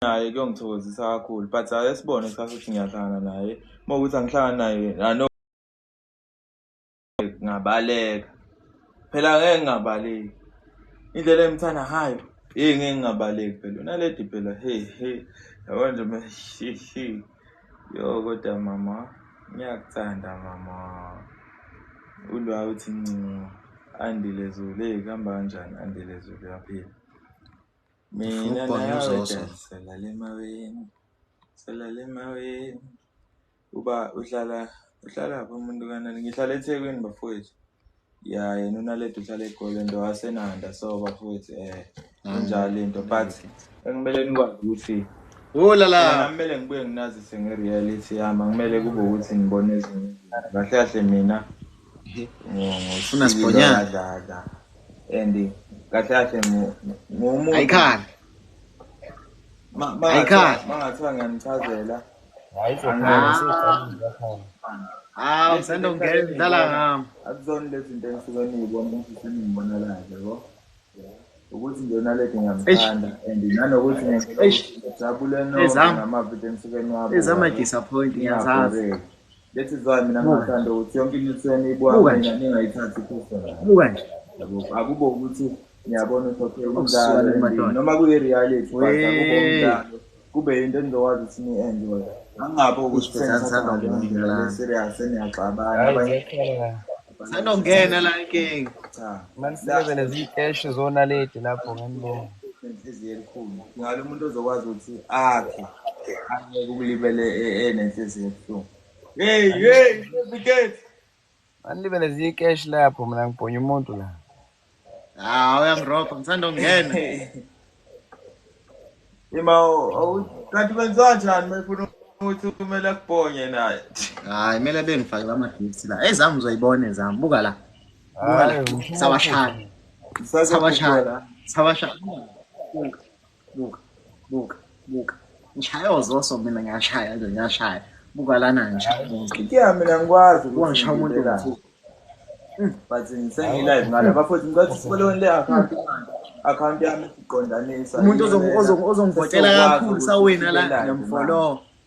naye kuyongithokozisa kakhulu but ake sibone kusasa ukuthi ngiyahlangana naye uma ukuthi angihlangani naye ano ngabaleka phela ngeke ngingabaleki indlela engimthanda hayo hey ngeke ngingabaleki phela unaledi phela hey hey yabo nje meshishi yo kodwa mama ngiyakuthanda mama ulwa uthi ncingo andile zulu hey kuhamba kanjani andile zulu yaphila Mina Football nawe uzoso. Jan, salala emaweni. Salala emaweni. Uba uhlala uhlala phi umuntu kanani? Ngihlala eThekwini bafowethu. Ya yena uNaledi uhlala eGolden ndo waseNanda so bafowethu eh Ah, kunjalo into but engimele nikwazi ukuthi Oh la la. Mina kumele ngibuye nginazise nge-reality yami angimele kube ukuthi ngibona ezinye izinto. kahle kahle mina Funa sibhonyana. ngisikilokadlakadla and kahle kahle ngomuntu ayikhali ayikhali mangathiwa ngiyanichazela hawu usanda ungena udlala ngami akuzona lezi zinto engisuke niyibona ukuthi seningibonelayo yabo ukuthi nje unaledi ngiyamthanda and nanokuthi ngijabule noma ngamavidiyo engisuke niwabona ezama-disappoint ngiyazazi That is why mina ngingathanda ukuthi yonke into etheni ibuka mina ningayithathi personal. Buka nje. Yabo akubo ukuthi ngiyabona ukuthi okay umdlalo endlini. noma kuyi reality but akubo umdlalo kube into enizokwazi ukuthi ni enjoy. Angabe ukuthi sengathanda umdlalo serious eniyaxabana abanye. Sanongena la inking. Cha. Manisebenzele nezikeshi zona lady lapho ngenibona. Inhliziyo elikhulu. Ngalo umuntu ozokwazi ukuthi akhe. Angeke ukulibele enenhliziyo ebuhlungu. Hey, hey, Bigate. Manilibele zikeshi lapho mina ngibhonya umuntu la. Ah, uyangiropa ngisanda kungena. Ima kanti kwenziwa njani mayifuna ukuthi kumele akubonye naye. Hayi kumele bengifake ama gifts la. Ezami uzoyibona ezami. Buka la. Buka la. Sawashaya. Sawashaya. Sawashaya. buka buka buka ngishaya ozoso mina ngiyashaya nje ngiyashaya buka lana ngishaya umuntu ya mina ngikwazi ukuthi ngishaya umuntu ngithuka hmm. but sengilive ngale bafowethu ngicela sifolowele account account yami iqondanisa umuntu ozongivotela kakhulu sawina la ngiyamfollowa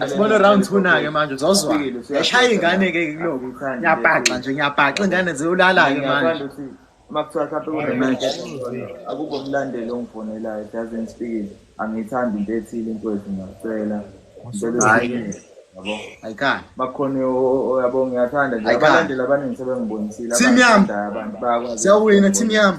asibone round two nake manje uzozwa yashaya ingane ke kuloku ngiyabhaxa nje ngiyabhaxa ingane ziyolala ke manje uma kuthiwa mhlawumbe akube umlandeli ongifonelayo doesn't speak angiyithandi into ethile inkwezi ngiyacela ayikani bakhona yabo ngiyathanda nje abalandeli abaningi sebengibonisile abantu bayakwazi siyawina team yami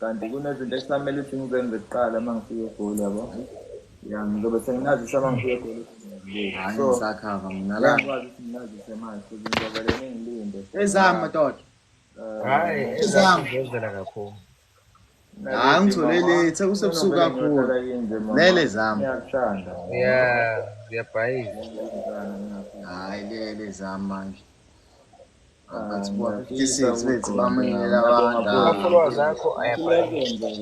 kanti kunezinto ekusamele ukuthi ngizenze kuqala uma ngifika egoli yabo ya ngizobe senginazisa uma ngifika egoli ngisakhava nginalakwazi ukuthi nginazise manje futhi ngizovele ngingilinde ezami madoda eh, hayi ezami ngizela kakhulu hayi ngithole lethe kusebusuku kakhulu lele zami ngiyakuthanda ya ngiyabhayiza hayi lele zami manje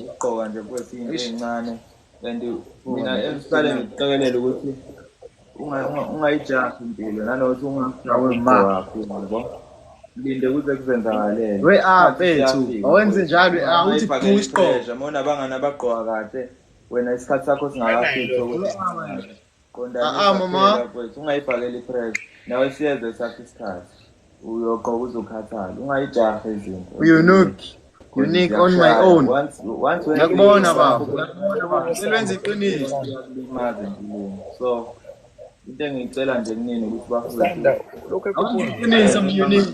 ukugqoka nje futhi into encane and mina esiqale ngikuqekelela ukuthi ungayijahi impilo nanokuthi ungawemawakho yabo linde kuze kuzenzakalele we ah bethu awenze njalo awuthi ah, buka isiqoqo mona abangani abagqoka kahle wena isikhathi sakho singakafiki ukuthi Ah, ah, mama. ungayibhakeli ipress nawe siyeze sakho isikhathi uyoqoka uzokhathala ungayijahe izinto uyunuki unique on my own ngakubona baba selwenza iqiniso so into engiyicela nje kunini ukuthi bafundeiqiniso munique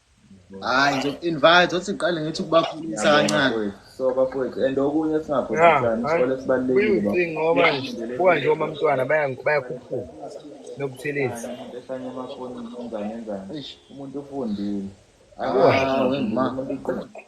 hayi ngizoku-invite othi ngiqale ngithi ukubakhulisa kancane so bafowethu and okunye singakhohlanisikole sibalulekile ngoba kuba nje uma mntwana bayakhuphuka nokuthelezi ehlanye emafonini enzani enzani umuntu ufundile ah,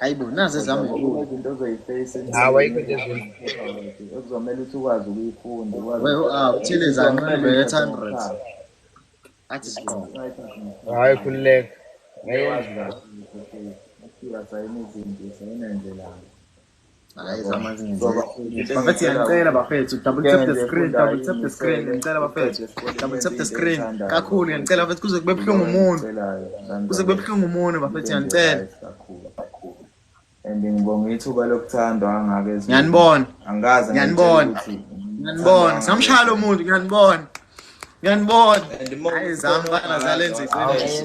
hayibo nazi ezami izinto ozoyifeyisa hawa yikho nje ekuzomele ukuthi ukwazi ukuyifunda ah, uthile zanqebe eight hundred athi siqobo hayi khululeka ngeke bafethu yanicela bafethu double tap the screen double tap the screen yanicela bafethu double tap the screen kakhulu yanicela bafethu kuze kube buhlungu umuntu kuze kube buhlungu umuntu bafethu yanicela and ngibonga ithuba lokuthandwa kangaka ezweni ngiyanibona angikaze ngiyanibona ngiyanibona samshaya lo muntu ngiyanibona ngiyanibona hayi zami bana zalenza iqiniso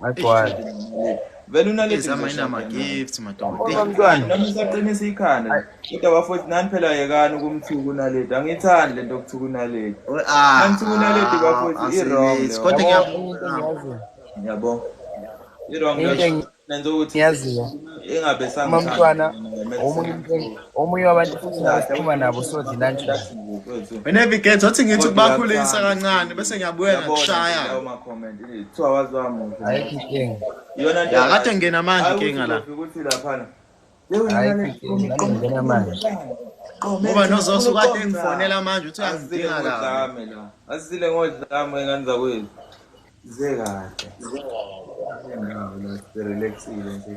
Agcwala. Vele unalezi Zama ina ma gifts madoda. Kodwa mntwana. Nami usaqinisa ikhanda. Kodwa bafowethu nani phela yekani ukumthuka unaledi. Angiyithandi lento okuthuka unaledi. Ah. Angithuka unaledi bafowethu i wrong leyo. Kodwa ngiyabona. Ngiyabona. I wrong leyo. Nenza ukuthi. Ngiyaziwa. Ingabe sangithanda. Mama mntwana. Omunye umntwana. omunye wabantu futhi ngasiphuma nabo sodlila nje wena viget wathi ngithi ukubakhulisa kancane bese ngiyabuyela kushaya ayikho inkinga ya kade ngena manje inkinga la ngena manje ngoba nozoso kade ngifonela manje uthi angidinga la asile ngodlame ngani zakwethu ze kahle relaxile nje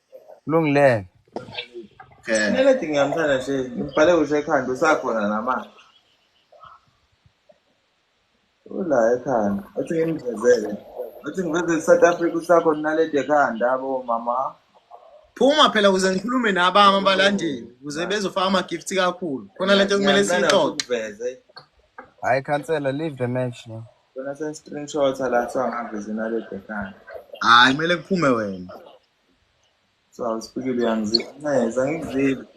Kulungileke. Okay. Kumele dinge yamthanda nje. Ngibhale usho ekhanda usakhona nama. Ula ekhanda. Athi ngimvezele. Athi ngivezele South Africa usakhona nalede ekhanda abo mama. Phuma phela ukuze ngikhulume nabami abalandeli ukuze bezofaka ama-gift kakhulu. Khona lento kumele siyixoxe. Hayi khansela leave the match no. Khona se-screenshot la kuthiwa ngaveze nalede ekhanda. Hayi kumele kuphume wena. So I was speaking to young Zip. Nice, I ain't Zip.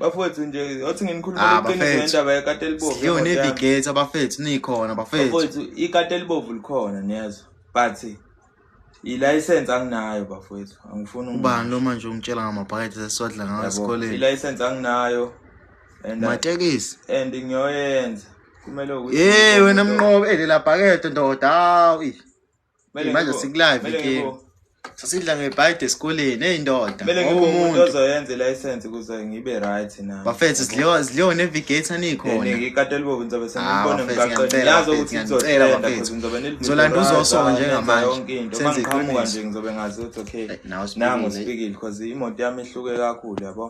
bafowethu nje othi nginikhulumela ah, iqiniso ngendaba yekati elibovu sidliwe nevigate abafethu nikhona bafethu ikati elibovu likhona niyazwa but ilayisensi anginayo bafowethu angifuni ubani lo manje ungitshela ngamabhakede sesiwadla ngawo esikoleni ilayisensi anginayo matekisi and ngiyoyenza kumele ukuthi Hey wena mnqobe elela bhakede ndoda hawu. ih. Kumele Manje ngibo- sikulive kumele ke. ngibo- Sasidla ngebhayide esikoleni hey ndoda. kumele ngibe umuntu Wawumuntu. ozoyenza i-license ukuze ngibe right nami Bafethu sidliwa sidliwa nevigator nikhona. ngikatela ubovu ngizobe Ah, senibona bafethu, emgaqweni ngiyanicela, yazi bafethu, ukuthi ngiyanicela, izothenda bafethu. because ngizobe nilivimba Ngizolanda right, uzoso ah, njengamanje. nenza yonke into Senze mangiqhamuka iqiniso. nje ngizobe ngazi ukuthi okay Eh, nawe usibukile. nangu sibikile because imoto yami ihluke kakhulu yabo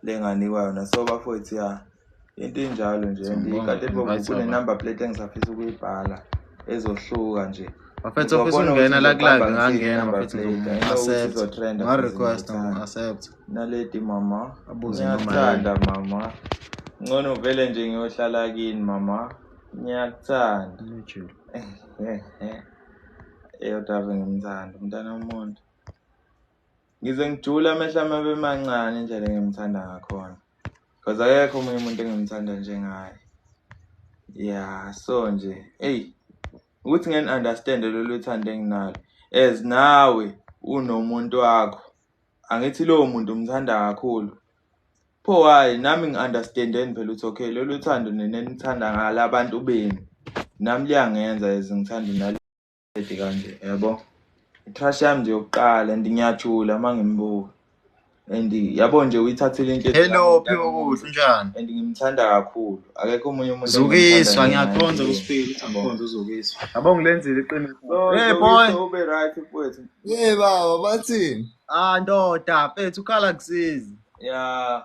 lenganikwa yona so bafowethu ya into enjalo nje and Siyabonga, ikade bobo invite kune abantu. number plate engisafisa ukuyibhala ezohluka nje bafethu ofisa Uzobona ukungena ukuthi la club uzoqamba ngangena ngisini number bafethu plate. I know ukuthi ngizomu-accept izotrenda futhi nga-request ngiyithanda. ngimu-accept naledi mama Abuze noma ngiyakuthanda mama ngcono uvele nje ngiyohlala kini mama ngiyakuthanda Lujule. eyodwa ave ngimthanda umntana womuntu ngize ngijule amehlo ami abe mancane indlela engimthanda ngakhona because akekho omunye umuntu engimthanda njengaye ya so nje eyi ukuthi ngeni-understande lolu thando enginalo as nawe unomuntu wakho angithi lowo muntu umthanda kakhulu pho why nami ngi-understandeni phela ukuthi okay lolu thando nenenithanda ngala bantu benu nami liyangenza as ngithanda Ethi kanje yabo. Crush yami nje yokuqala and ngiyajula uma ngimbuka. And yabo nje uyithathile into Hello Phiwo kuhle njani? And ngimthanda kakhulu. Akekho omunye umuntu Zukiswa ngiyakhonza kusiphili ukuthi angikhonza uzukiswa. Yabo ngilenzile iqiniso. Hey boy. Ube right mfowethu. Hey baba bathini? Ah ndoda mfethu ukhala kusizi. Yeah.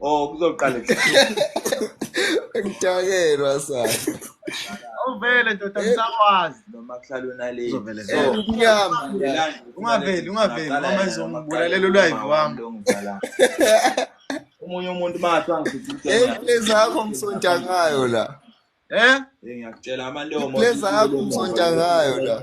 Oh kuzoqala ngitakelwa sa. Uvele ndoda ngisakwazi noma kuhlala unale. Uzovele so. Unyama. Ungaveli ungaveli mama izongibulalela ulive wami. Umunye umuntu mathu angifithi into. Hey please akho ngisonta ngayo la. Eh? Ngiyakutshela amantomo. Please akho ngisonta ngayo la.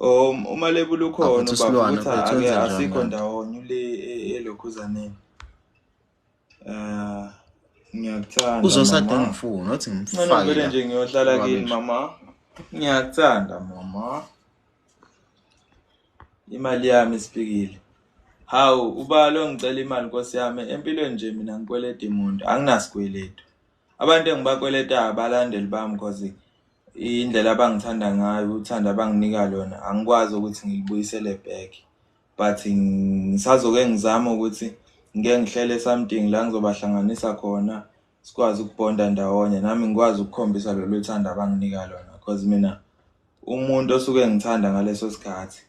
Um uma lebula ukhona ubaba ukuthi ake asikho ndawonye le elokhuzaneni. Eh ngiyakuthanda. Uzosade ngifuna uthi ngimfake. Mina ngivele nje ngiyohlala kini mama. Ngiyakuthanda mama. Imali yami isipikile. Hawu ubalo ngicela imali nkosi yami empilweni nje mina ngikweleta imuntu anginasikweletu. Abantu engibakweletayo abalandeli bami cause indlela abangithanda ngayo uthando abanginika lona angikwazi ukuthi ngilibuyisele back but ngisazoke ngizama ukuthi ngike ngihlele something la ngizobahlanganisa khona sikwazi ukubonda ndawonye nami ngikwazi ukukhombisa lolu thando abanginika lona cause mina umuntu osuke ngithanda ngaleso sikhathi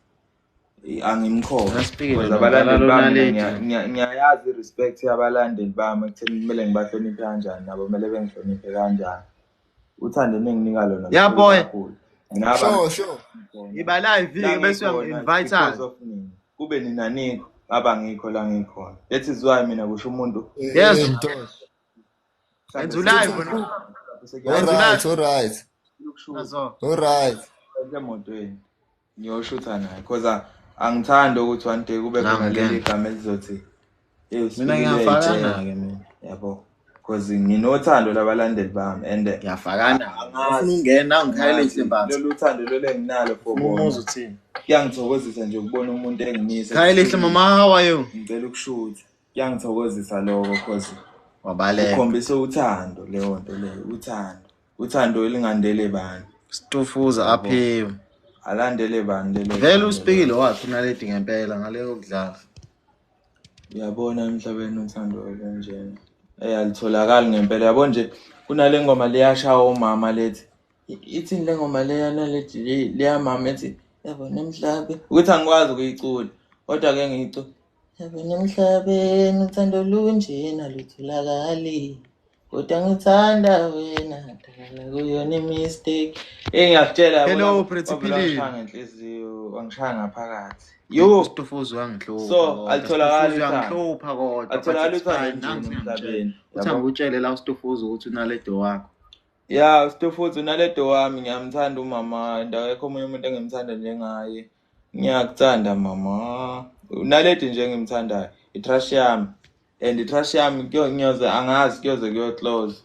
angimkhona because abalandeli bami ngiyayazi i-respect yabalandeli bami ekutheni kumele ngibahloniphe kanjani nabo kumele bengihloniphe kanjani uthando enenginika lona yaboy sure sure iba live bese uyangi-invite kube nina nikho ngaba ngikho la ngikhona that is why mina kusho umuntu yes enza ulive alright alright alright emotweni Ngiyoshutha naye because angithandi ukuthi one day kube khona leli gama elizothi mina ngiyafakana-ke mina yabo because nginothando labalandeli bami and ngiyafakana ngifuna ungena ngikhayele nje mbatha lolu thando lolu enginalo for umuzi uthini kuyangithokozisa nje ukubona umuntu engimise khayele nje mama how are you ngicela ukushutha kuyangithokozisa lokho because wabaleka ukhombisa uthando leyo nto leyo uthando uthando elingandele bani stufuza aphiwe alandele bani lelo vele uspikile wakhe unaledi ngempela ngaleyo kudlala uyabona emhlabeni uthando olunjena eyi alitholakali ngempela yabo nje kunale ngoma liyashawa umama lethi ithini le ngoma leyana lethi leyamama ethi yabona emhlabe ukuthi angikwazi ukuyicula kodwa-ke ngiyicula Yabona emhlabeni uthando lunjena lutholakali kodwa ngithanda wena dala kuyona imistake eyi ngiyakutshela Hello, wena, Pretty wavele Philip. wangishaya ngenhliziyo wangishaya ngaphakathi yo Ustufuzi uyangihlupha So, kodwa, alitholakali Stufuzi uthando. uyangihlupha kodwa but Alitholakali it's uthando fine, nje nangu emhlabeni, sengimtshela. yabo. Uthi angikutshele la ustufuzi ukuthi unaledo wakho ya ustofuthi unaledo wami ngiyamthanda umama and akekho omunye umuntu engimthanda njengaye ngiyakuthanda mama unaledi nje engimthandayo itrash yami and itrash yami ngiyoze angazi kuyoze kuyoclose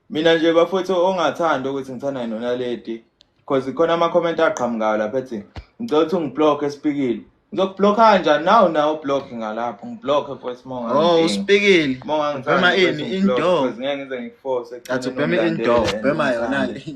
mina nje bafowethu ongathanda ukuthi ngithanda yini unaledi because khona ama-comment aqhamukayo lapha ethi ngicela ukuthi ungiblock esipikile ngizokubloka kanjani nawu nawo block ngalapho ngibloke futhi monga oh usipikile monga ngithanda ini indoor ngeke ngize ngikuforce athi ubhema indoor ubhema yona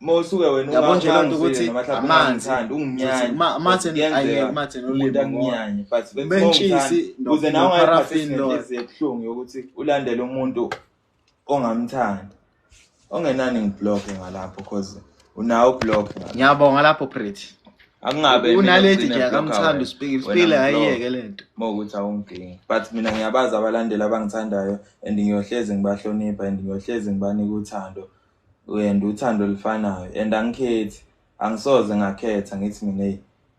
mawusuke wena yabo nje loo nto ukuthi amanzi amanzi ayekumathenolimnyanye but bentshisi kuze nawe ungayiphathisinehliziebuhlungu yokuthi ulandele umuntu ongamthandi ongenani ngibloke ngalapho cause unawo ubloke ngiyabonga lapho pretty akungabe unaledi nje akamthanda usipikile usipikile ayiyeke le nto uma ukuthi awungidingi but mina ngiyabazi abalandeli abangithandayo and ngiyohlezi ngibahlonipha and ngiyohlezi ngibanika uthando uyenda uthando olufanayo and angikhethi angisoze ngakhetha ngithi mina hey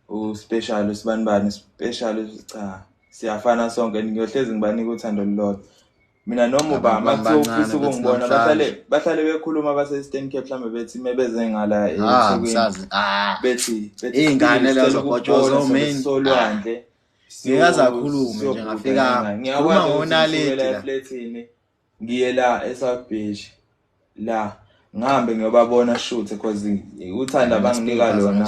uspecial usibani bani special cha siyafana sonke ngiyohlezi ngibanika uthando lolodwa mina noma uba makuthofisa ukungibona bahlale bahlale bekhuluma base-eastern cape mhlawumbe bethi me beze ngala ah, esukwini ah. bethi iy'ngane lezo kotshozosolwandle ah. ngikaze akhulume nje ngafikanga uma ngonaledi ngiye la eSouth Beach la ngihambe ngiyobabona shoot because uthanda banginika lona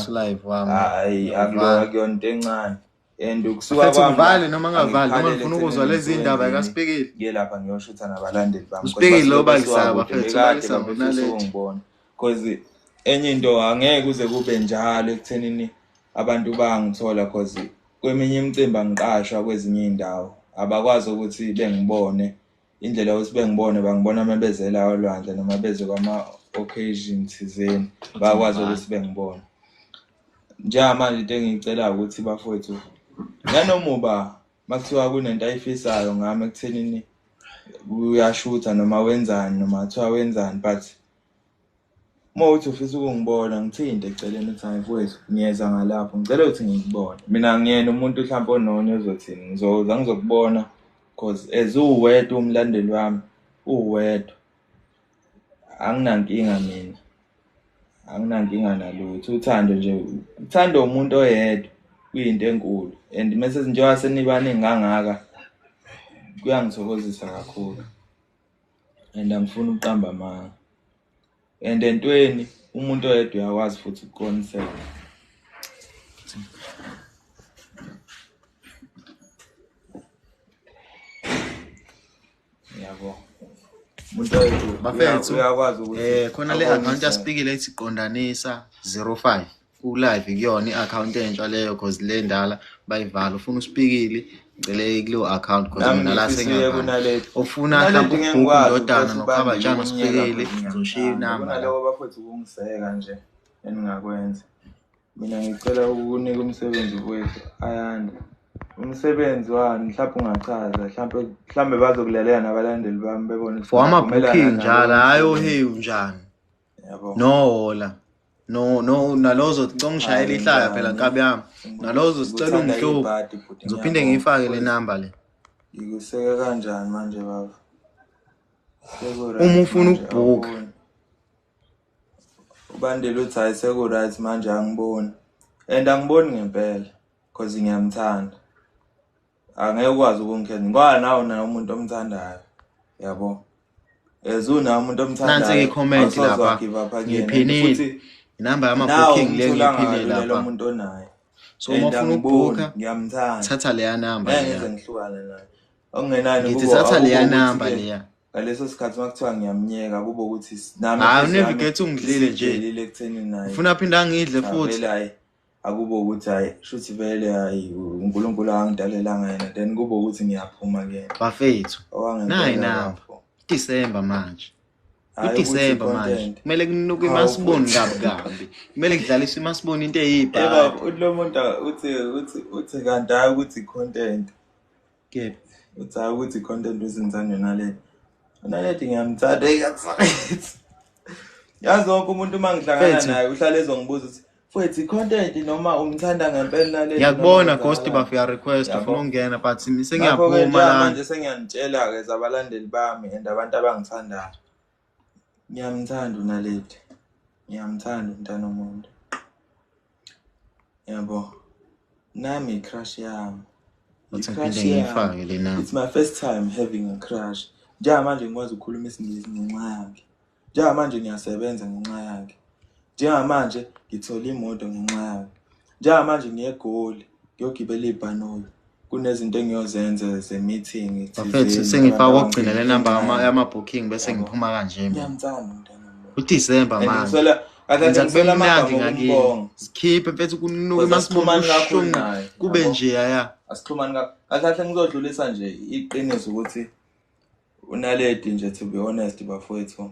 hayi akulona kuyona into encane and ukusuka kwami ngivale noma ngavali noma ngifuna ukuzwa lezi indaba kaSipikile ngiye lapha ngiyoshutha nabalandeli bami uSipikile obalisaba mfethu obalisaba nalento cause enye into angeke uze kube njalo ekuthenini abantu bangithola cause kweminye imicimbi angiqashwa kwezinye iy'ndawo abakwazi ukuthi bengibone indlela yokuthi bengibone bangibona uma bezela olwandle noma beze kwama-occasion thizeni bakwazi ukuthi bengibone njengamanje into engiyicelayo ukuthi bafowethu nanomuba Makuthiwa kunento ayifisayo ngami ekuthenini uyashutha noma wenzani noma kuthiwa wenzani but uma uthi ufisa ukungibona ngithinte eceleni ukuthi hayi mfowethu ngiyeza ngalapho ngicela ukuthi ngikubone mina ngiyena umuntu mhlawumpe ononya ozothini ngizoza ngizokubona cause as uwedwa umlandeli wami uwedwa anginankinga mina anginankinga nalutho uthando nje uthando umuntu oyedwa kuyinto enkulu and mese njengoba senibaningi kangaka kuyangithokozisa kakhulu and angifuni ukuqamba amanga and entweni umuntu oyedwa uyakwazi futhi ukuqoniseka yabo bafethu eh khona le account aspikile ethi qondanisa 05 ku live kuyona i-account entsha leyo cause le ndala bayivala ufuna uspikile ngicele kuleyo account cause mina la sengiyabhala ufuna mhlawumbe ukubhuka indodana nokuhamba njani uspikile ngizoshiya inamba naloko bafethu ukungiseka nje eningakwenza mina ngicela ukunika umsebenzi kwethu ayanda umsebenzi wani mhlawumbe ungachaza mhlawumbe mhlawumbe bazokulalela nabalandeli bami bebone for ama-booking njalo hhayi ohewu njani nohola no no nalozo congishayela ihlaya phela nkabi yami nalozo sicela ungihluku ngizophinde ngiyifake le namba le ngikuseke kanjani manje baba uma ufuna ukubhukha uBandile uthi hayi seku-right manje angiboni and angiboni ngempela because ngiyamthanda angeke ukwazi ukungikhetha ngoba nawo naye umuntu omthandayo yabo as unaye umuntu Nansi ke comment omthandayo lapha. awusoze-give up again. And Ngiphinile. futhi inamba nawe yamabooking le umthola ngiyiphile kalula lo lapha muntu onaye so uma And ufuna angiboni, ukubhukha ngiyamthanda thatha leya namba ngeke leya ngize ngihlukane naye okungenani ngithi thatha leya number leya ngaleso sikhathi makuthiwa ngiyamnyeka kube ukuthi nami hayi unevigate ungidlile nje ngidlile ekuthenini naye ufuna phinde angidle futhi hayi akube ukuthi hayi shuthi vele hayi uNkulunkulu angidalelanga yena then kube ukuthi ngiyaphuma ke bafethu nayi namba December manje uDecember manje kumele kunuke imasiboni kabi kabi kumele kudlaliswe imasiboni into eyibhaka yebo lo muntu uthi uthi uthi kanti hayi ukuthi content Kid, uthi hayi ukuthi i-content uzinzani yona leti. Yona leti ngiyamthanda eyakusayithi. Yazi wonke umuntu uma ngihlangana Fethu. naye uhlale ezongibuza ukuthi fwethu i-content noma umthanda ngempela naleti. ngiyakubona ghost bafo uya request Yabo. ufuna ukungena but Ngakho-ke sengiyaphuma njengamanje lana sengiyanitshela-ke zabalandeli bami and abantu abangithandayo. Ngiyamthanda uNaledi. Ngiyamthanda umntana omuntu. Yabo. Nami crush yami. Ngicrush yami. It's my first time having a crush. Njengamanje ngikwazi ukukhuluma isingisi ngenxa yakhe. Njengamanje ngiyasebenza ngenxa yakhe. Njengamanje ngithole imoto ngenxa yayo. Njengamanje ngiye eGoli ngiyogibela ibhanoyi. Kunezinto engiyozenza ze-meeting Bafethu sengifaka okugcina le namba yama-booking bese ngiphuma kanje mina. Ngiyamthanda umntana wami. UDisemba And manje. ngiswela- kahle Enza ngiswela kube amagama mnandi ngakini. okumbonga. Sikhiphe mfethu kunuka Ngoba emasibona sikhuluma ngakho ubuhlungu ngayo, kube yabo. nje yaya. asixhumani ka kahle kahle ngizodlulisa nje iqiniso ukuthi Unaledi nje to be honest bafowethu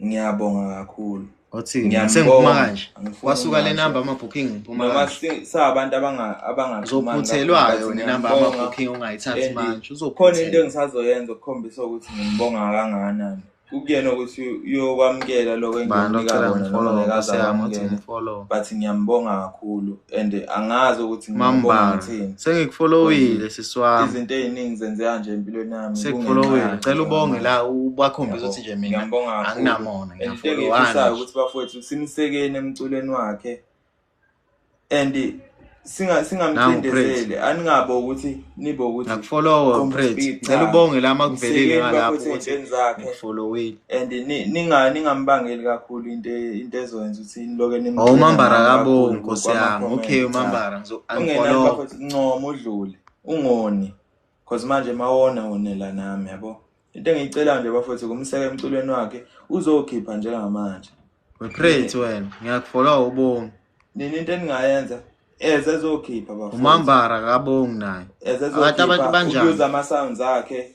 ngiyabonga kakhulu. Othini ngiyasengiphuma kanje. Wasuka le number ama booking ngiphuma. Noma sabantu abanga abanga uzophuthelwayo ne number ama booking ungayithathi manje. Uzokhona into engisazoyenza ukukhombisa ukuthi ngibonga kangakanani. kukuyena ukuthi uyokwamukela lokho engiyonika kona noma ngekazakwamukela but ngiyambonga kakhulu and angazi ukuthi ngibonga ngithini sengikufollowile siswami izinto eziningi zenzeka nje empilweni yami sekufollowile cela ubonge la ubakhombisa ukuthi nje mina anginamona ngiyafollowana ukuthi bafowethu simsekeni emculweni wakhe and singa singamcindezeli aningabo ukuthi nibo ukuthi akufollowa praise cela ubonge la makuvelile ngalapho ukuthi ngifolowile and ninga ningambangeli kakhulu into into ezoyenza ukuthi niloke nimbuke oh, umambara kabo nkosi yami okay umambara ngizofollow ncoma udlule ungoni cause manje mawona wonela nami yabo into engiyicela nje bafethu kumseke emculweni wakhe uzokhipha njengamanje we pray to wena ngiyakufollow ubonga nini into eningayenza eze zokhipha bafethu umambara kabongi naye akathi abantu banjani uza ama sounds akhe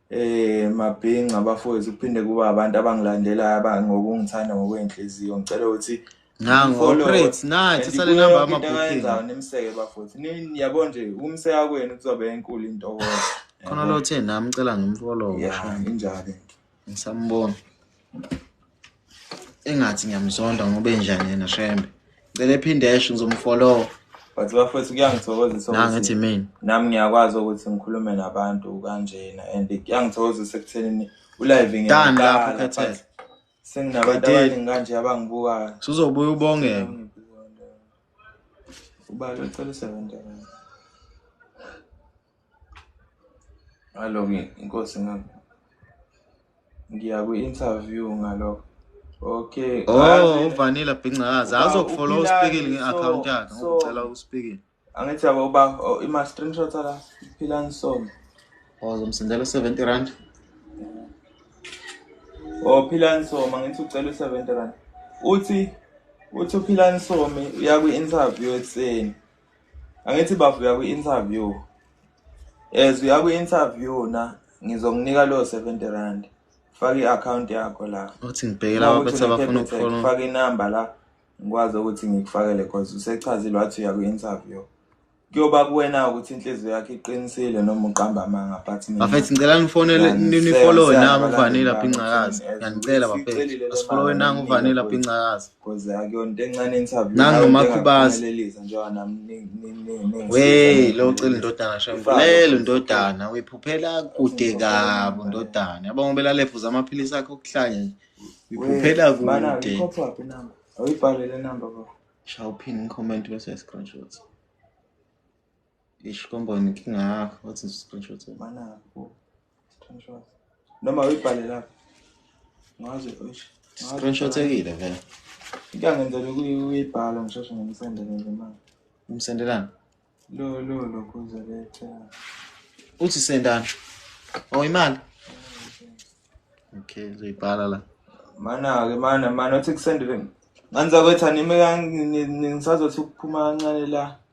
Eh mabhinca bafowethu kuphinde kuba abantu abangilandelayo abangokungithanda ngokwenhliziyo ngicela ukuthi nango great nathi sale namba ama booking nimseke bafowethu niyabo nje umseka kwenu kuzobe enkulu into khona lo the nami ngicela ngimfollow yeah injalo ngisambona engathi ngiyamzonda ngoba enjani yena shembe ngicela ephinde esho ngizomfollowa but bafowethu kuyangithokozisa nangithi mina nami ngiyakwazi ukuthi ngikhulume nabantu kanjena and kuyangithokozisa ekuthenini ulive ngiyaqala lapho khethela senginabantu abaningi kanje abangibukayo sizobuya ubongeke ubalo cela usebenza Alo nginkosi ngakho. Ngiya kwi-interview ngalokho. Okay. Oh, uvanila bhincaza. Azokufollow uspikile nge-account yakhe. Ngicela uspikile. Angithi yabo uba oh, ima screenshot la. Phila ngisoma. Oh, zomsindela 70 rand. Oh, phila ngisoma ngithi ucela 70 rand. Uthi uthi uphila ngisoma uya kwi-interview ekuseni. angithi bafo uya kwi-interview as uya kwi-interview na ngizokunika leyo seventy rand faka i-akhawunti yakho la uthi ngibheke laba bethe bafuna ukufona faka inamba la ngikwazi ukuthi ngikufakele cause usechazile wathi uya kwi-interview kuyoba kuwena ukuthi inhliziyo yakhe iqinisile noma uqamba amanga but bafethu ngicela nifonele nifollowe nangu uvanile lapha incakazi ngiyanicela bafethu asifollowe nangu uvanile lapha incakazi Cause akuyonto encane interview. Nangu makhubazi. Ngelelisa njengoba nami ningi. Hey, lo cela indodana shembu. Lelo ndodana uyiphuphela kude kabi ndodana. Yabonga ubelale phuza amaphilisi akhe okuhlanya nje. Uyiphuphela kude. Bana, uyikhopha phi number? Awuyibhalele number baba. Shawuphini comment bese screenshots. Ish kombo inkinga yakho wathi screenshot mana bo screenshot noma uyibhale lapha ngaze ish screenshot ekile vele ngiyangenzela ukuyibhala ngishoshe ngimsendele nje manje umsendelani lo lo lokho uzoletha uthi sendani oh imali okay uzoyibhala la mana ke mana mana uthi kusendele nganza kwetha nimi ngisazothi ukuphuma kancane la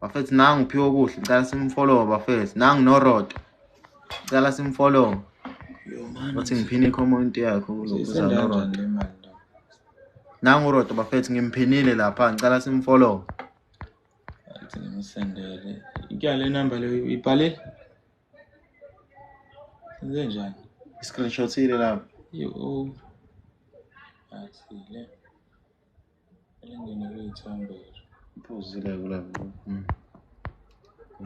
bafethu nangu uphiwe okuhle ngicela simfollowe bafethu nangu norodo ngicela simfollowe othi ngiphine icomment yakho kulokuza norodo nangu urodo bafethu ngimphinile lapha ngicela simfollowe ngimsendele ikya le number leyo ibhale senze njani i-screenshot ile lapho yo athile elingene kuyithambo iphuzile kula ngqo hmm.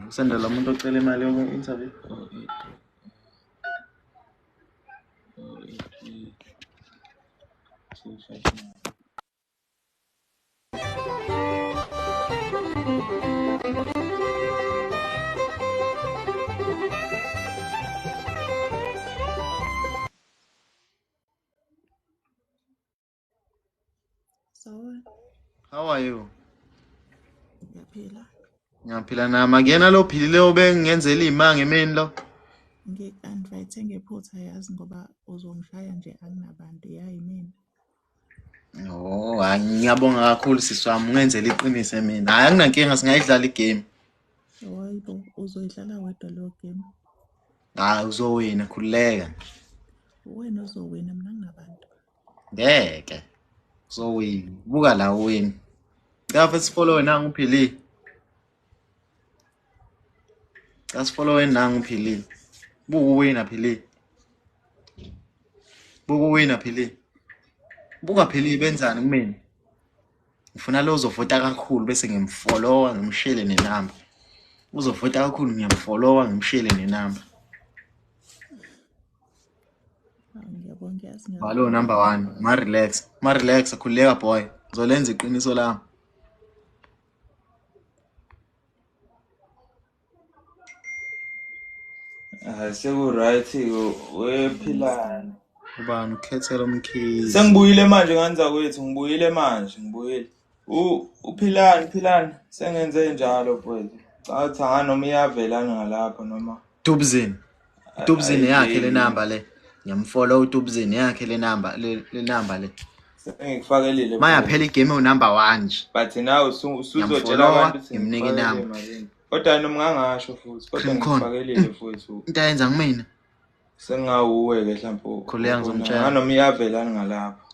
kusendela umuntu ocela imali yoku-interview oh, Sawubona. How are you? Ngiyaphila. Ngiyaphila nami. Akuyena lo philile obengenzela imanga emini lo. Ngi-invite ngephutha yazi ngoba uzongishaya nje anginabantu yayi mina. Oh, hayi ngiyabonga kakhulu sisi wami ungenzela iqiniso mina. Hayi anginankinga singayidlala igame. Hayibo, uzoyidlala wedwa leyo game. Hayi uzowina khululeka. Uwena ozowina mina nginabantu. ngeke so buka la wena Ngapha sifollowe nangu uphili. Cha sifollowe nangu uphili. Buku wina phili. Buku wina phili. Buka phili benzani kumina. Ngifuna lo uzovota kakhulu bese ngimfollowa ngimshele nenamba. Uzovota kakhulu ngiyamfollowa ngimshele nenamba. Balo number one, ma relax, ma relax, khululeka boy, ngizolenza iqiniso lami. Ah, seku-right wephilani ubani ukhethela umkhizi sengibuyile manje ngani zakwethu ngibuyile manje ngibuyile U- uphilani philani sengenze njalo mfowethu cala ukuthi hha noma iyavela ngalapho noma Dubzin. a- Dubzin yakhe ayiveli le number le. Ngiyamfollow uDubzin yakhe le number le le number le. sengikufakelile mfowethu Mayaphela igame u number 1 nje. but nawe usu- usuzotshela Ngiyamfollowa abantu ukuthi ngimnika ngikufakelile inamba. malini kodwa noma ngangasho futhi kodwa Cream corn. ngikufakelile mfowethu Into ayenza kumina. sengingawuwe-ke hlampe Khuleka ubona ngizomtshela. nganoma iyavelani ngalapho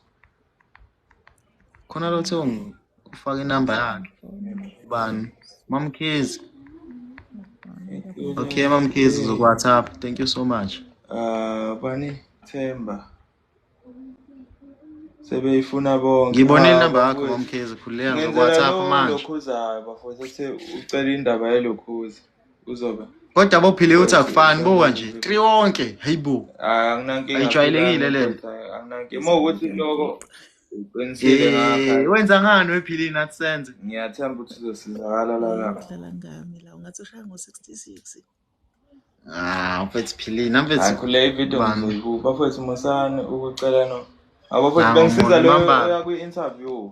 khona lothe ufaka inamba yakhe ubani mamkhizi okay mamkhizi uzoku-whatsapp thank you so much uh, bani themba sebeyifuna bonke ngibone ah, inamba yakho mamkhizi khululeka ngoku-whatsapp manje lokhuzayo bafo sese ucela indaba yelokhuza uzoba kodwa bophile uthi akufani buka nje tri wonke heyi bo ayijwayelekile le nto eh, wenza ngani wephilini nathi senze ngiyathemba ukuthi uzosizakala lalala ngami la ungathi ushaya ngo-66 Ah, mfethu philini, mfethu. Hayi kule video ngizoyibu. Bafethu musani ukucela no. Abafethu bengisiza lo yakwi interview.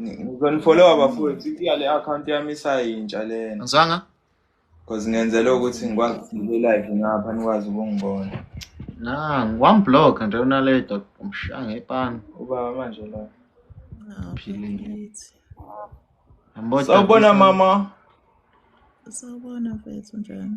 Ngizonifollowa bafowethu iya le account yami isayintsha lena. Ngizwanga? Cause ngenzela ukuthi ngikwazi ukuba live ngapha nikwazi ukungibona. Na, ngiwam block nje unaleta umshaya ngepani. Ubaba manje la. Philile. Ambotha. Sawubona mama. Sawubona mfethu njani?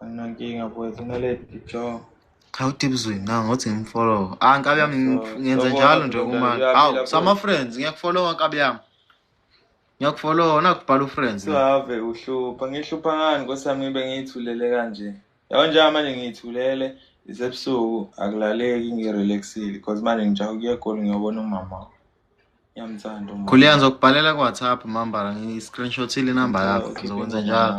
anginankinga boys unaledi jo cha utibuzweni na ngothi ngimfollow ah nkabi yami ngenza njalo nje uma hawu sama friends ngiyakufollowa nkabi yami ngiyakufollowa nakubhala ufriends save uhlupha ngihlupha ngani nkosiyami ngibe ngiyithulele kanje yabo njenga manje ngiyithulele isebusuku akulaleki ngirelaxile because manje ngijaha ukuya egoli ngiyobona umama Ngiyamthanda umuntu. Khuliya ngizokubhalela ku WhatsApp mambala ngi-screenshotile inamba yakho ngizokwenza njalo.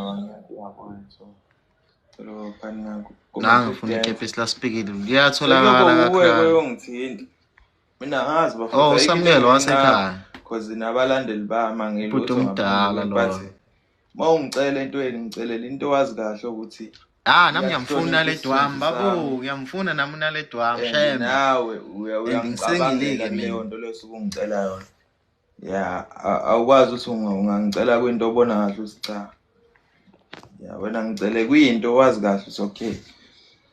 Nange ngifuna ikepisi laspikile liyatholakala kakhulu. Uyongithinta. Mina ngazi bafuna. Oh uSamukelo wasekhaya. Cause nabalandeli bami angilutho. Bhuti omdala lo. uma ungicela entweni ngicelela into owazi kahle ukuthi Ah nami ngiyamfuna le dwam babo ngiyamfuna nami una le dwam shem nawe uyangicabangela leyo nto leyo suku ngicela yona ya awukwazi ukuthi ungangicela kwinto obona kahle ukuthi cha ya wena ngicele kwinto owazi kahle ukuthi okay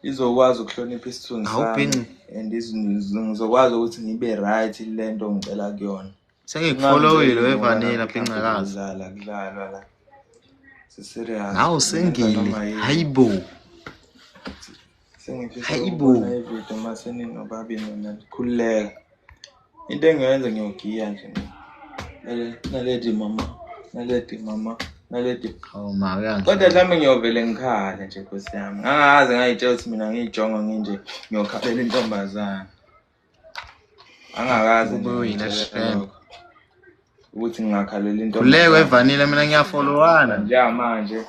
izokwazi ukuhlonipha isithunzi sami and ngizokwazi ukuthi ngibe right lento ngicela kuyona sengikufolowile wevanila phincakazi kudlala kudlalwa la siserious nawe usengile hayi bo hayi bo ividiyo uma seninobabini mina ndikhululeka into engiyoyenza ngiyogiya nje naledi mama naledi mama naledi oh, kodwa mhlawumbe ngiyovele ngikhale nje nkosi yami ngangazi ngayitshela ukuthi mina ngiyijongo nginje ngiyokhalela intombazane angakazi ubuyile shem ukuthi ngingakhalela into kuleko evanile mina ngiyafolowana njengamanje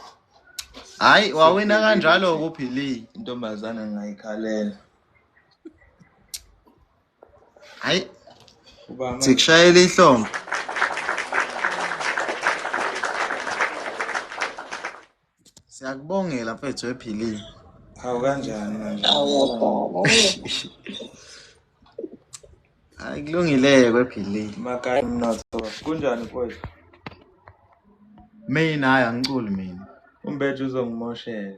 hayi wawina kanjalo kuphili intombazana ngingayikhalela hayi sikushayela ihlombe Siyakubongela mfethu ephilile. Hawu kanjani manje? Hayi kulungileke kwephilile. Makaya umnotho. Kunjani mfowethu? Mina hayi angiculi mina. Umbethu uzongimoshela.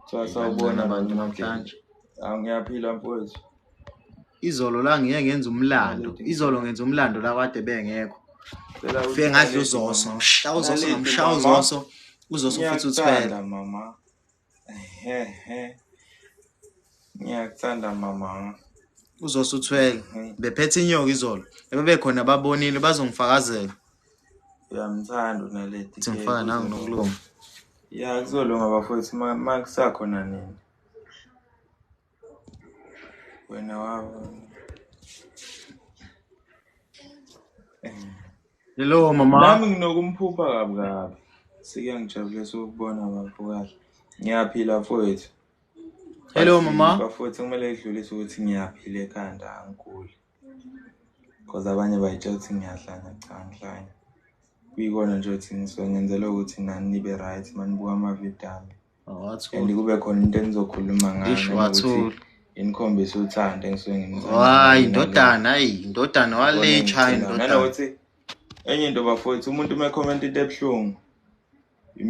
Kuthiwa sawubona bantu namhlanje. Ah, ngiyaphila mfowethu. Izolo la ngiye ngenza umlando. Izolo ngenza umlando la kade bengekho. Cela Fike ngadla uthi- uzoso, ngimshaya uzoso, Lalezi, ngimshaya mama. uzoso. Uzoso futhi Ngiyakuthanda, uthwele. mama. Ehehe. Ngiyakuthanda mama. Uzoso uthwele. Mhm. Bephethe inyoka izolo. Bebekhona babonile bazongifakazela. Uyamthanda unaleti. Ukuthi ngifaka nangu nokulunga. Ya kuzolunga bafowethu uma kusakhona nini. Wena wabo. Hello mama. Nami nginokumphupha kabi kabi. Sike ngijabulisa ukubona bafo kahle. Ngiyaphila mfowethu. Hello mama. Bafowethu kumele idlulise ukuthi ngiyaphila ekhanda angiguli. Cause abanye bayitshela ukuthi ngiyahlanya cha ngihlanya. Kuyikona nje ukuthi ngisuke ngenzela ukuthi nani nibe right manibuka amavidiyo ami. Awathula. And kube khona into enizokhuluma ngayo Ish, noma ukuthi wathula. inikhombise uthando engisuke ngimthanda. Hayi ndodana, hayi ndodana walecha hayi ndodana. Nanokuthi enye into bafowethu umuntu uma ekhomenta into ebuhlungu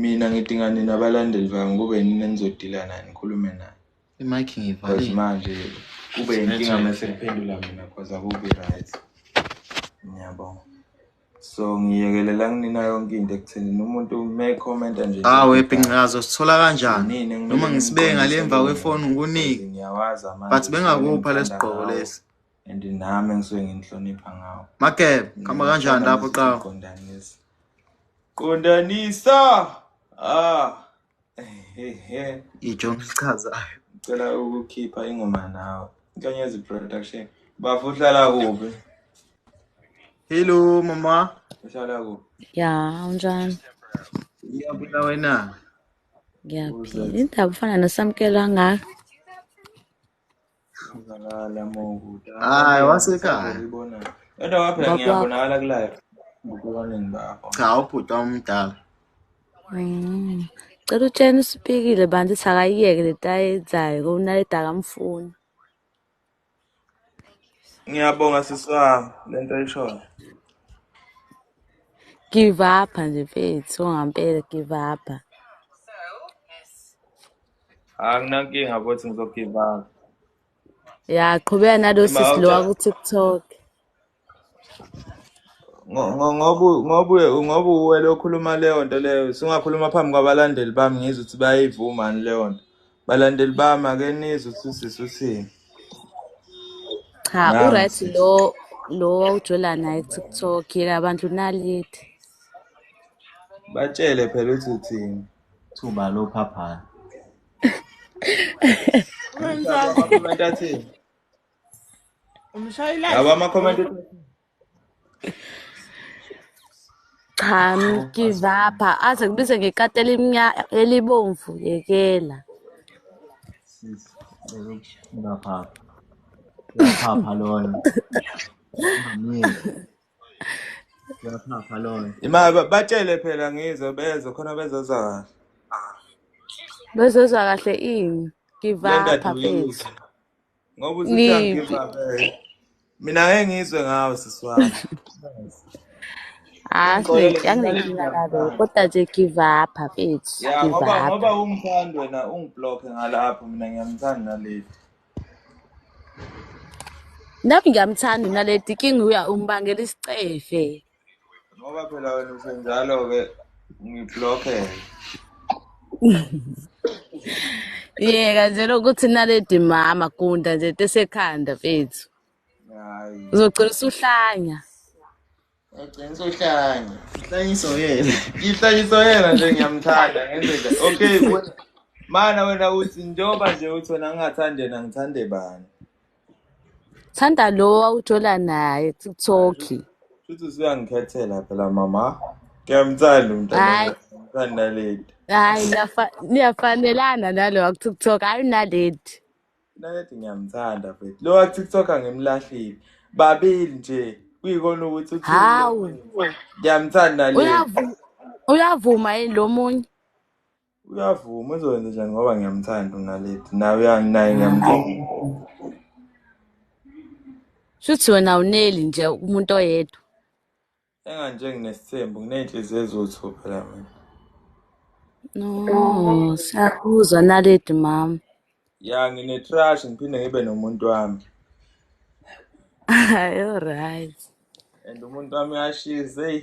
mina ngidinga nina abalandeli bami kube yini enizodila naye nikhulume naye. Imike ngivale. Cause manje kube inkinga mase kuphendula mina cause akubi right. Ngiyabonga. So ngiyekelela kunina yonke into ekutheni umuntu me comment nje. Ah we pincazo sithola kanjani? Noma ngisibeke ngale emva kwefoni ngikunike. Ngiyawazi amanje. But bengakupha lesigqoko lesi. And nami ngisuke nginhlonipha ngawo. Makeb, khamba kanjani lapho qhawe? Qondanisa. Qondanisa. Ah. ijo ngichazayo ngicela ukukhipha ingoma nawe inkanyezi production bafo uhlala kuphi hello mama uhlala kuphi ya unjani ngiyabula wena ngiyaphila indaba ufana nesamkelo angaka Ubalala mokude. Hayi wasekhaya. Uyibona. Kodwa waphela Baba. ngiyabonakala ku live. Ngokubaningi bakho. Cha ubhuti omdala. Mm. Cela utshena usipikile bantu ukuthi akayiyeke le nto ayenzayo ngoba unaledi akamfuni. Ngiyabonga sisi wami lento ayishoyo. Give up nje mfethu, ongampela give up. anginankinga bothi ngizogivanga ya qhubeka nalo sisi lo waku-tiktok ngoba uwele okhuluma leyo nto leyo singakhuluma phambi kwabalandeli bami ngizwe ukuthi bayayivumani leyo nto balandeli bami ake nizwe ukuthi usisi uthini cha uright lo lo wawujola naye tiktok yeka abantu nalithi batshele phela ukuthi uthini thuba lophaphana laba ama-comment cha mgivapha aze kubize ngekati elibomvu yekela uyaphapha loyo Yaphapha lona. Imali ba- batshele phela ngizwe beze khona bezozwa kahle. Bezozwa kahle ini? Give Kule up nto mfethu. aduyile. Ngoba usuthi Ni angigive up. eh. Mina ngeke ngizwe ngawe sisi wami. ah Ngixolele sine mina anginenkinga ngingigave nalo kahle. kodwa nje give up mfethu. Ya Give ngoba up. ngoba ungithanda wena ungiblock ngalapho mina ngiyamthanda naleli. Nami ngiyamthanda uNaledi king uya umbangela isicefe. Ngoba phela wena usenjalo ke ngiblockhe. Yeka nje lokuthi Naledi mama gunda nje tesekhanda mfethu. Hayi. Uzogcina usuhlanya. Ugcina sohlanya. Ihlanyiso yena. Ihlanyiso yena nje ngiyamthanda ngendlela. Okay wena. Mana wena uthi njengoba nje uthi wena ngingathande yena ngithande bani. Thanda lo awuthola naye TikTok. Futhi usuyangikhethela phela mama. Ngiyamthanda umntana. Hayi. Ngithanda lady. Hayi niyafanelana nalo akuTikTok. Hayi nalady. Nalethi ngiyamthanda mfethu. Lo wa TikTok angimlahlile. Babili nje kuyikona ukuthi uthi Hawu, ngiyamthanda le. uyavu uyavuma yini lo munye? Uyavuma uzokwenza njani ngoba ngiyamthanda uNaledi. Nawe uya- naye ngiyamthanda. Shuthi wena uneli nje umuntu oyedwa. Enganje nginesithembu nginey'nhliziyo eziwu-two phela mina. No, siyakuzwa naledi mama. Ya ngine-trash ngiphinde ngibe nomuntu wami Hayi, alright. and umuntu wami uyashiza eyi.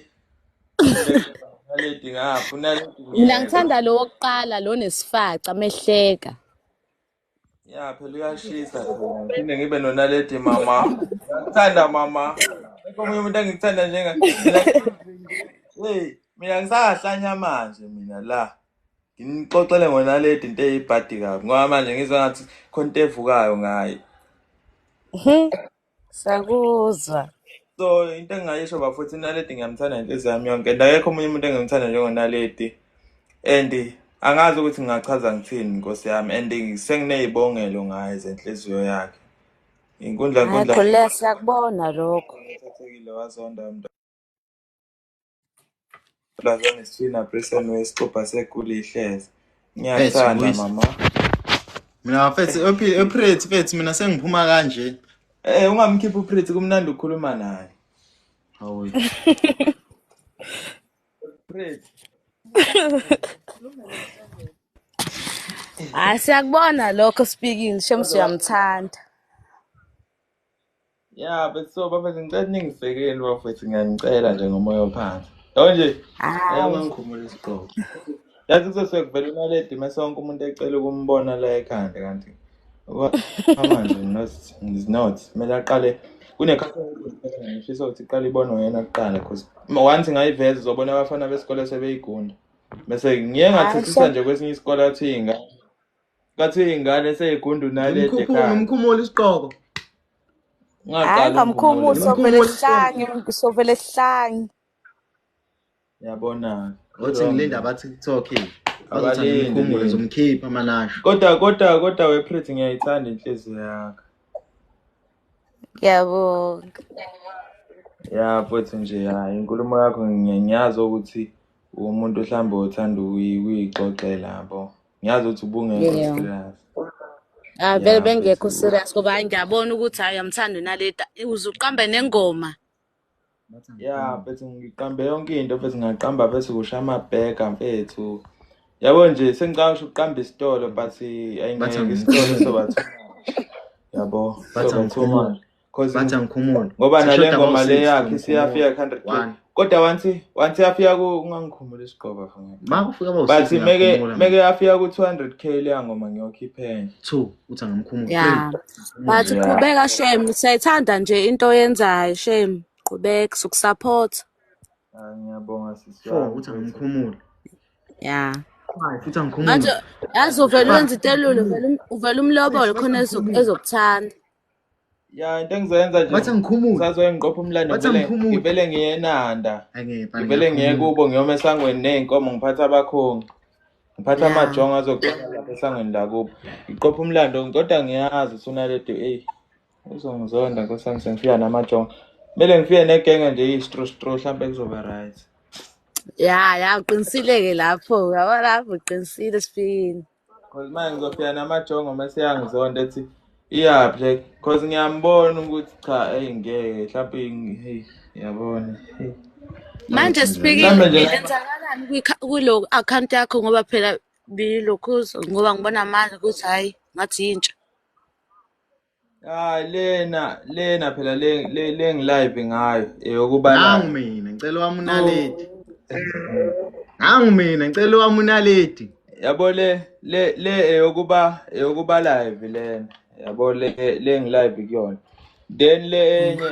Naledi ngapha unaledi Mina ngiyena. ngithanda lo wokuqala lo nesifaca mehleka. Ya phela uyashisa khona. Ngiphinde ngibe nonaledi mama. Ngithanda mama. Akekho omunye umuntu engikuthanda njenga. Mina hey, mina ngisahlanya manje mina la. Nginixoxele ngonaledi into eyibhadi kabi. Ngoba manje ngizwa ngathi khona into evukayo ngaye. Sakuzwa. so into engingayisho bafuthu unaledi ngiyamthanda ngenhliziyo yami yonke and akekho omunye umuntu engimthanda njengonaledi and angazi ukuthi ngingachaza ngithini nkosi yami and senginey'bongelo ngaye zenhliziyo yakhe inkundla Hayi nkundla khuleka siyakubona lokho. ethathekile wazonda mntu Lazane sina prison wesixubha seguli ihlezi. Ngiyathanda mama. Mina mfethu ePretty mfethu mina sengiphuma kanje. Eh ungamkhiphi uPretty kumnandi ukukhuluma naye. Hawu. Pretty. Hayi siyakubona lokho speaking shem siyamthanda. ya bethso bafethu ngicela ningisekeli bafethu ngiyanicela nje ngomoya ophansi yabo nje hawu uyangikhumula isiqobo yazi kuzosuke kuvela imali edime sonke umuntu ecela ukumbona la ekhanda kanti manje not kumele aqale kunekhathangifisa ukuthi iqale ibonwe yena kuqala because once ngayiveza uzobona abafana besikole sebeyigunda bese ngiye ngathethisa nje kwesinye isikole athi ingane Ngathi ingane seyigundunale ekhaya. Umkhumula isiqoko. Hayi ngamkhumula sovele sihlange sovele sihlange. Yabona. Othi ngilinda abathi TikTok yini? Abalinde zomkhipha amanasho. Kodwa kodwa kodwa wePretty ngiyayithanda inhliziyo yakho. Ngiyabonga. Ya mfowethu nje hayi inkulumo yakho ngiyazi ukuthi umuntu mhlawumbe othanda ukuyixoxela yabo. ngiyazi ukuthi ubungekho Yeah. serious Ah vele yeah bengekho mfethu serious ngoba hayi ngiyabona ukuthi hayi uyamthanda uNaleta. Uze uqambe nengoma. yeah mfethu ngiqambe yonke into mfethu ngaqamba bese kusha amabheka mfethu yabo nje sengicabanga ukuthi uqamba isitolo but ayingeke isitolo soba too much yabo soba too much cause bathi angikhumuli ngoba nale ngoma le yakhe siyafika 100 kodwa wanthi wanthi yafika ku ungangikhumula isiqoba mfana makufika bo but meke meke yafika ku 200k le ngoma ngiyokhiphela 2 uthi angamkhumula yeah but qhubeka shem siyayithanda nje into oyenzayo shem qhubeka sokusupport ah, ngiyabonga sisi 4 uthi angamkhumula yeah futhi angikhumula yazi uvele wenza itelulo uvele umlobolo khona ezokuthanda ya into engizoyenza nje Wathi angikhumule. sazoye ngiqopha umlando Wathi ngivele- angikhumule. ngivele ngiyenanda Angeke bani, ngivele ngiye ngiyakhuluma. kubo ngiyoma esangweni ney'nkomo ngiphatha abakhongi ngiphatha Ya. amajongo azoqala lapha esangweni lakubo ngiqopha umlando kodwa ngiyazi usunaledo eyi uzongizonda nkosi yami sengifika namajongo kumele ngifike negenge nje istro stro hlampe kuzoba right ya ya uqinisile-ke lapho yabo lapho uqinisile sifikile Cause manje ngizofika namajongo mase yangizonda ethi iyaphi like cause ngiyambona ukuthi cha hey ngeke mhlawumbe hey yabona hey manje speaking yenzakalani kulo account yakho ngoba phela bilokhuzo ngoba ngibona manje ukuthi hayi ngathi yintsha Hayi lena lena phela le le le ngilive ngayo eyokuba eh, nangu mina ngicela wami unaledi. Nangu mina ngicela wami unaledi. Yabo le le le eyokuba eh, eyokuba eh, live lena. Yabo le le ngilive kuyona. Then le enye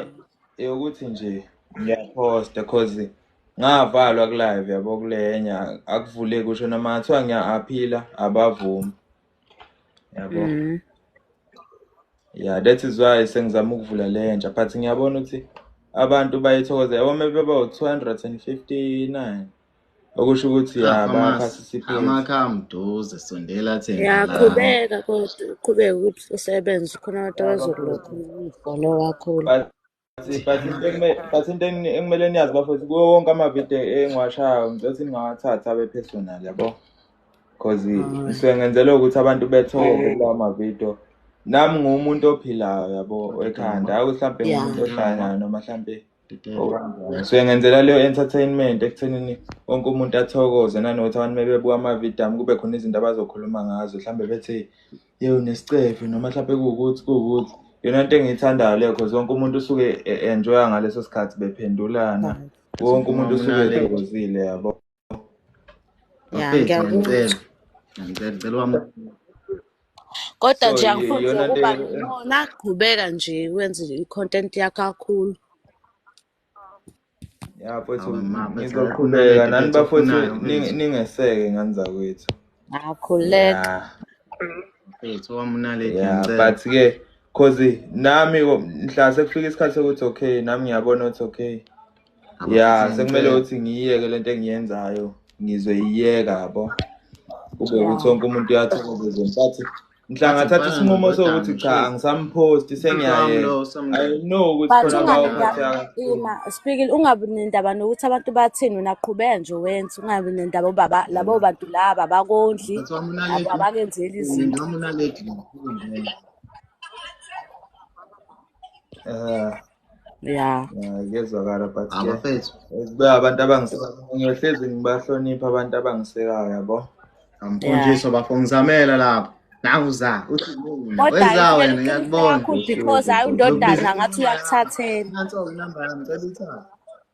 eyokuthi nje ngiyaposta cause ngavalwa ku live yabo kulenya akuvuleki usho noma ngathiwa ngiya aphila abavumi. yabo mm. yeah that is why sengizama ukuvula le nja but ngiyabona ukuthi abantu bayithokoza yabo maybe baba u-259 okusho ukuthi ya ah, bayaphasisiphe amakha amduze sondela thina yaqhubeka kodwa uqhubeke ukuthi usebenze khona abantu abazokulokhu umfolo wakho but into ekumele niyazi bafowethu kuwo wonke amavidiyo engiwashayo ngicela ukuthi ningawathathi abe personal yabo because ngisuke ngenzela ukuthi abantu bethole kulawo mavidiyo nami nguwumuntu ophilayo yabo ekhanda ayi ukuthi mhlawumbe ngumuntu ohlanyana noma mhlawumbe ngisuke ngenzela leyo entertainment ekuthenini wonke umuntu athokoze nanokuthi abantu mebebuka amavidiyo ami kube khona izinto abazokhuluma ngazo mhlawumbe bethi Yebo nesicefe noma mhlawumbe kuwukuthi kuwukuthi yona nto engiyithandayo leyo cause wonke umuntu usuke e- enjoya ngaleso sikhathi bephendulana wonke umuntu usuke ethokozile yabo Ya, Bafethu, ngiyakuzwa. ngicela ngicela ngicela wami Kodwa So, nje y- angifuni nje yona ukuba nto- nona qhubeka nje wenze i-content yakho kakhulu. ya mfowethu Awu, ma, bese ngizoqhubeka akhuleke, nani bese bafowethu ufunani, ning- mfethu. ningeseke ngani zakwethu Akhuleka. ya Mfethu, owamunaledi, ya ngicela. but ke cause nami ko- mhla sekufika isikhathi sokuthi okay nami ngiyabona ukuthi okay Awu, ya mfethu, sekumele ngicela. ukuthi ngiyiyeke lento engiyenzayo ngizoyiyeka yabo kube Yeah. ukuthi wonke umuntu uyathokoza but nhlanga thatha isinqumo sokuthi cha angisamphosti sengiyayena i know ukuthi khona bawuphathina speaking ungabi nendaba nokuthi abantu bathini wena qhubeka nje wenza ungabi nendaba ubaba labo bantu laba bakondli abakenzeli izinto ya kuyezwakala but abafethu abantu abangisekangiyohlezi ngibahlonipha abantu abangisekayo yabo amfundisi bafo ngizamela lapho nawuza uthi wenza wena ngiyakubona because hayi undodana ngathi uyakuthathela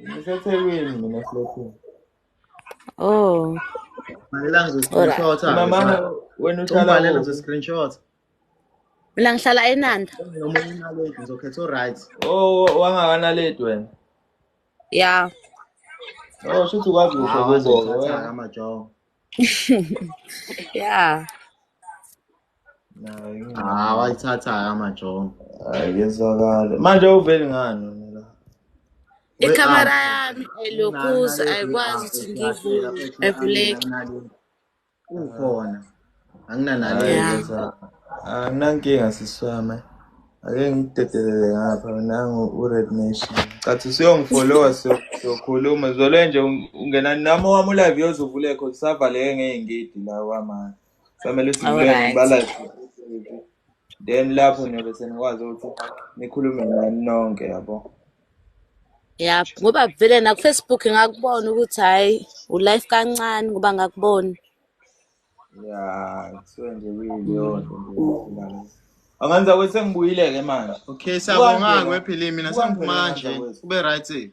ngisethekwini mina flothini oh bhalela ngizoscreenshot mama wena uhlala ngizoscreenshot mina ngihlala enanda noma unaledi ngizokhetha uright oh wangakanaledi wena ya oh shuthi ukwazi kuhle kubo amajongo ya Ah, wayithatha amajongo. Hayi kezwakala. Manje uveli ngani wena la? Ikhamera yami ayilokuza ayikwazi ukuthi ngivule evuleke. Ukhona. Anginanaleyo. Anginankinga siswami. Ake ngidedelele ngapha nangu uRed Nation. Cathi usuyongifollowa siyokhuluma. Zwele nje ungena nami owami ulive yozuvulekho kusavaleke ngeengidi la wamanje. Kufanele sibuleke balike then lapho niyobe senikwazi ukuthi nikhulume nani nonke yabo. Ya ngoba vele na ku Facebook ngakubona ukuthi hayi u life kancane ngoba ngakubona. Ya so nje kuyiyo nje. Anganza kwese ngibuyile ke manje. Okay, siyabonga-ke wephile mina sengiphuma kanje. Kube right.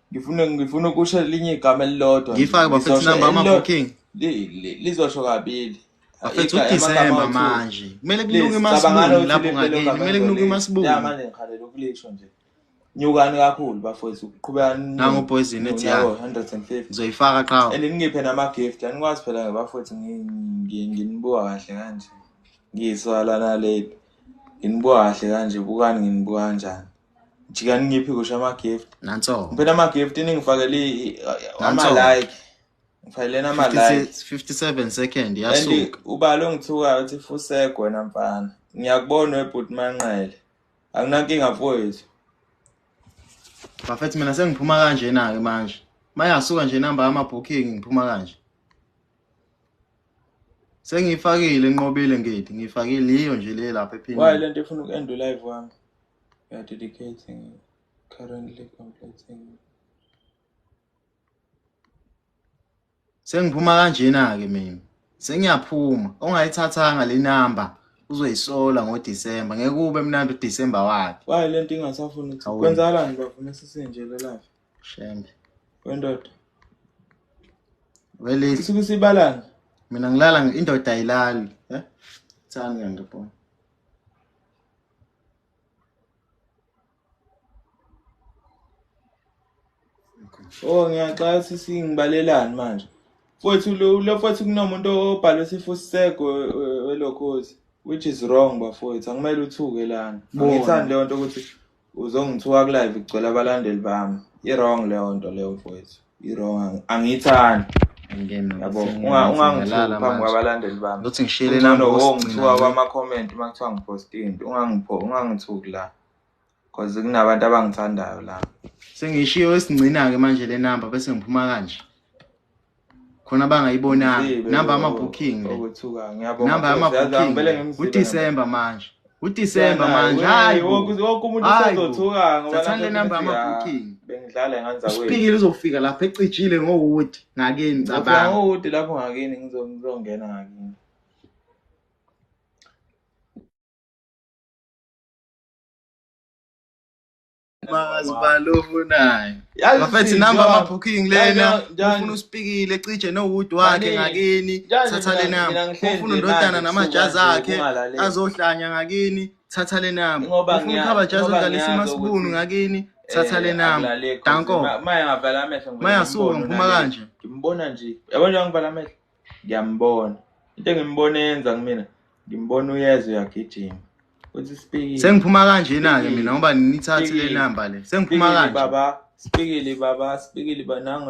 ngifuna ngifuna ukusho elinye igama elilodwa ngifake bafethu number ama booking lizosho kabili bafethu uDecember manje kumele kunuke imasibungu lapho ngakini kumele kunuke imasibungu ya manje ngikhalela ukulisho nje nyukani kakhulu bafowethu uqhubeka nangu poison ethi ya 150 ngizoyifaka qha elingiphe nama gift anikwazi phela ngabafowethu nginibuka kahle kanje ngiyiswala naleli nginibuka kahle kanje bukani nginibuka kanjani jikani ngiphi kusho ama-gift nanso ngiphi nama-gift ningifakele ama-like ngifakeleni ama-like 57 second yasuka ubala ongithukayo uthi fusek wena mfana ngiyakubona webhuti manqele akunankinga mfowethu bafethi mina sengiphuma kanjena-ke manje mayasuka nje inamba yama-booking ngiphuma kanje sengiyifakile nqobile ngidi ngiyifakile yiyo nje le lapha ephini wayi le nto ifuna uku-end live wami We are dedicating it. Currently completing. Sengiphuma kanjena ke mina. Sengiyaphuma. Ongayithathanga le number uzoyisola ngoDecember. Ngeke kube mnandi uDecember wakhe. Wayi lento ingasafuni ukuthi Awuyi. kwenzakalani bafo mesisinje lelafi. Shembe. Wendoda. Wele Isuke sibalana. mina ngilala nge- indoda ayilali. Eh? Thani ngiyangibona. Oh ngiyaxaka sisi ngibalelani manje. Mfowethu lo lo mfowethu kunomuntu obhalwe sifu sisego welokhozi which is wrong bafowethu akumele uthuke lana. Angithandi leyo nto ukuthi uzongithuka ku live kugcwele abalandeli bami. I wrong leyo nto leyo mfowethu. irong angiyithandi yabo ungangitholi phambi kwabalandeli bami uthi ngishiyele number ongithiwa kwama comment uma kuthiwa ngiposte into ungangipho ungangithuki la cause kunabantu abangithandayo la sengishiyo esingcina ke manje le number bese ngiphuma kanje khona bangayibonanga number ama booking le number ama booking uDecember manje uDisemba manje hayi wonke umuntu usezothuka ngoba thatha le number ama booking bengidlala nganza kwethu uspikile uzofika lapha ecijile ngowood ngakini cabanga ngowood lapho ngakini ngizongena ngakini Mazibalo ufunayo. Bafethu number ama booking lena. Ufuna uspikile cije no wood wakhe ngakini. Thatha le number. Ufuna undodana namajazi akhe azohlanya ngakini. Thatha le number. Ufuna ukhaba jazi odlalisa imasibunu ngakini. Eh, Thatha le number. Danko. Maya ngavala amehlo. Maya suka ngiphuma kanje. Ngimbona nje. Yabona ngivala amehlo. ngiyambona into engimbona yenza kumina ngimbona uyezwe uyagijima uthi sipikile sengiphuma kanje na ke mina ngoba nithathe le number le sengiphuma kanje baba sipikile baba sipikile banango